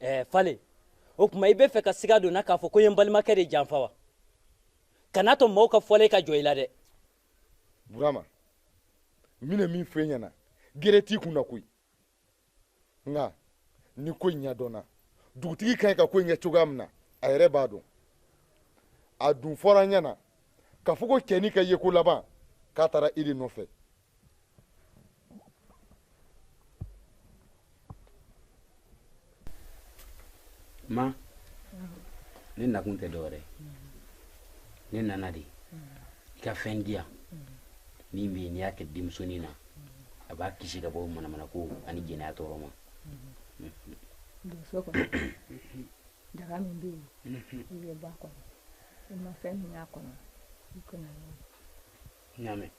ɛɛ fale o tuma i b'a fɛ ka siga don n na k'a fɔ ko n ye n balimakɛ de janfa wa kan'a to mɔgɔw ka fɔlen ka jɔ i la dɛ burama n bɛna min fɔ i ɲɛna gere t'i kun na koyi nka ni ko in ɲɛdɔnna dugutigi ka ɲi ka ko in kɛ cogoya min na a yɛrɛ b'a dɔn a dun fɔra n ɲɛna k'a fɔ ko cɛnin ka yeko laban k'a taara i de nɔfɛ ma ne nakun tɛ dɔwɛrɛ ne nana de i ka fɛn di yan min bɛ yen n'i y'a kɛ denmusonin na a b'a kisi ka bɔ manamanako ani jɛnɛya tɔɔrɔ ma don so kɔnɔ daga min bɛ yen i bɛ ba kɔnɔ i ma fɛn min y'a kɔnɔ i ka na n'a ye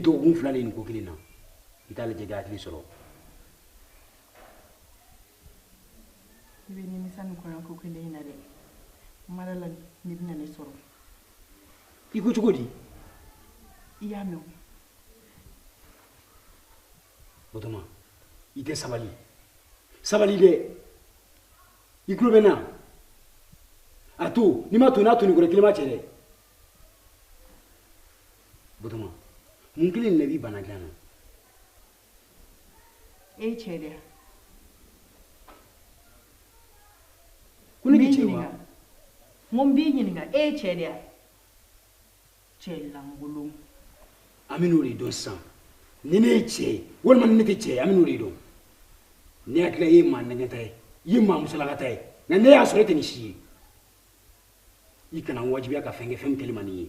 nin dɔgɔkun fila de nin ko kelen na i t'a lajɛ i ka hakili sɔrɔ i bɛ nimisa nin kɔɲɔko kelen in na dɛ mara la ne bɛna ne sɔrɔ i ko cogo di i y'a mɛn batoma i tɛ sabali sabali dɛ i tulo bɛ n na a to n'i m'a to n'a to nin kɔrɔ kelen ma se dɛ batoma mun kɛlen de la i b'i ban n na dilan na e ye cɛ de ye wa ko ne bɛ cɛ wa n ko n b'i ɲininka e ye cɛ de ye wa cɛ lankolon an bɛn'o de dɔn sisan ni ne ye cɛ ye walima ni ne tɛ cɛ ye an bɛn'o de dɔn ne hakili la e ye maa nɛgɛnta ye i ye maa musalakata ye nka ne y'a sɔrɔ e tɛ nin si ye i kana n wajibiya ka fɛn kɛ fɛn min kɛli man di n ye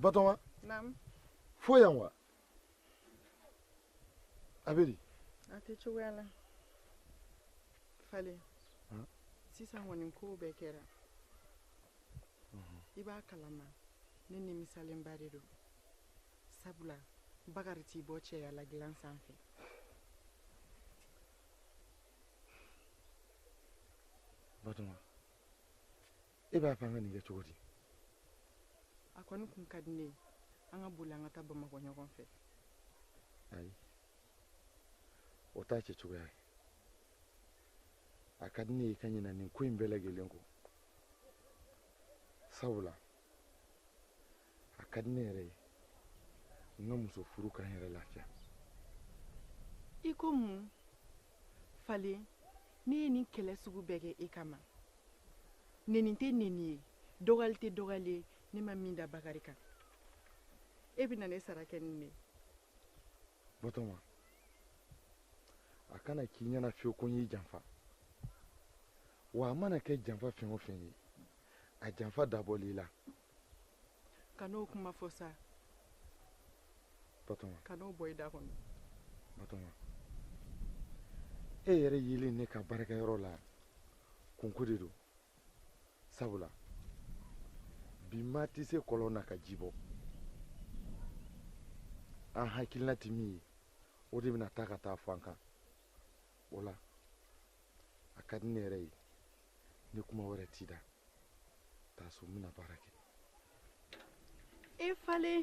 Batoma. Naamu. Fo yan wa? A bɛ di? A tɛ cogoya la. Fale. Sisan kɔni kow bɛɛ kɛra. I b'a kalama ne nimisalenba de don. Sabula Bakari t'i bɔ cɛya la dilan sanfɛ. batoma e b'a fɛ an ka nin kɛ cogo di a kɔni kun ka di ne ye an ka boli an ka taa bamakɔ ɲɔgɔn fɛ ayi o t'a kɛcogoya ye a ka di ne ye ka ɲina nin ko in bɛɛ lajɛlen kɔ sabula a ka di ne yɛrɛ ye n ka muso furu ka n yɛrɛ lafiya i ko mun falen ne ye nin kɛlɛ sugu bɛɛ kɛ i kama neni tɛ neni ye dɔgɔyali tɛ dɔgɔyali ye ne ma min da bakari kan e bɛna ne sara kɛ nin de batoma a kana k'i ɲɛna fiyewu ko n y'i janfa wa a mana kɛ janfa fɛn o fɛn ye a janfa dabɔl'i la kan'o kuma fɔ sa kan'o bɔ i da kɔnɔ e yɛrɛ yelen ne ka baarakɛyɔrɔ la kunko de don sabula bi maa tɛ se kɔlɔn na ka ji bɔ an hakilina tɛ min ye o de bɛna taa ka taa fɔ an kan o la a ka di ne yɛrɛ ye ni kuma wɛrɛ t'i da taa so n bɛna baara kɛ e falen